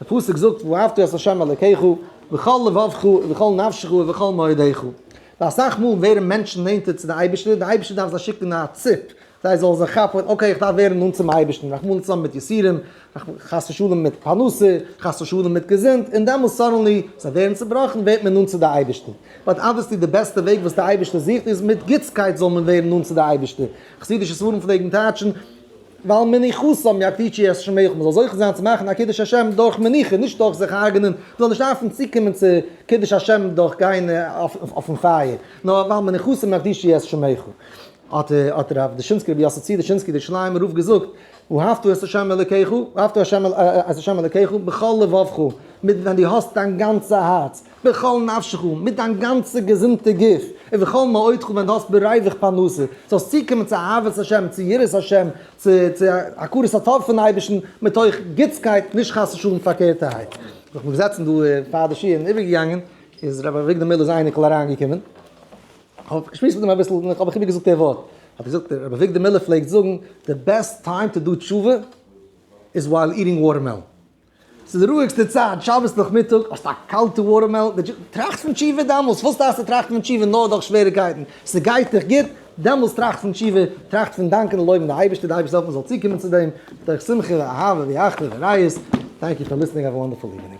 דער פסוק זאגט ואהבת את ה' אלקיך בכל לבבך ובכל נפשך ובכל מאודך, ווייל אסאך מאל ווערן מענטשן נענטער צו די אייבערשטער, די אייבערשטער דארף זיי שיקן א ציפ, זיי זאלן זיך כאפן, אקעי איך דארף ווערן נאנט צום אייבערשטן, רחמנא ליצלן מיט יסורים, חס ושלום מיט פרנסה, חס ושלום מיט געזונט, און דעמאלס סאדענלי, זיי ווערן צעבראכן, ווערט מען נאנט צו די אייבערשטן. באט אבוויעסלי די בעסטע וועג וואס די אייבערשטער זוכט איז מיט גוטסקייט זאל מען ווערן נאנט צו די אייבערשטער, חסידישע ספרים פלעגן טייטשן, ווייל מנוחת האבן יא טיטשי עס שמח מען זאל זוכה זיין צו מאכן א קידוש השם דורך מנוחה נישט דורך זיך הרג'נען מען זאל נישט דארפן צוקומען צו קידוש השם דורך גיין אויפן פייער נאר ווייל מנוחת האבן יא טיטשי עס שמח האט האט רב דושינסקי רבי יוסף צבי דושינסקי דער שליימער רב געזאגט ואהבת את השם אלקיך ואהבת את השם אלקיך בכל לבבך מיט ווען די האסט דיין גאנצע הארץ. בכל נפשך און מיט דיין גאנצע געזונטע גוף, ובכל מאודך ווען דו האסט ברייביך פרנסה, זאלסט צוקומען צו אהבת השם, צו יראת השם, צו צו הכרת הטוב פון אייבערשטן, מתוך גוטסקייט, נישט חס ושלום פארקערטערהייט. זיך נאך געזעצן דא פאר די שיעור און איבערגעגאנגען, איז רבי אביגדור מילער'ס אייניקל אריינגעקומען, כ'האב מיך געשמועסט מיט אים אביסל, און כ'האב מיך איבערגעזאגט דער ווארט, האט ער געזאגט, רבי אביגדור מילער פלעגט זאגן, די בעסט טיים טו דו תשובה איז ווייל איטינג וואטערמעלאן, ס'איז די רואיגסטע צייט, שבת נאכמיטאג, האסט א קאלטע וואטערמעלאן, די דזשוס, טראכט פון תשובה דעמאלס, וואס דארפסטו טראכטן פון תשובה נאר דורך שוועריגקייטן, ס'גייט דיך גוט, דעמאלס טראכט פון תשובה, טראכט פון דאנקען און לויבן די אייבערשטער, די אייבערשטער זאל העלפן מ'זאל צוקומען צו דעם, דורך שמחה ואהבה ואחווה וראיות, טענק יו פאר ליסטענינג, האוו א וואנדערפול איווענינג.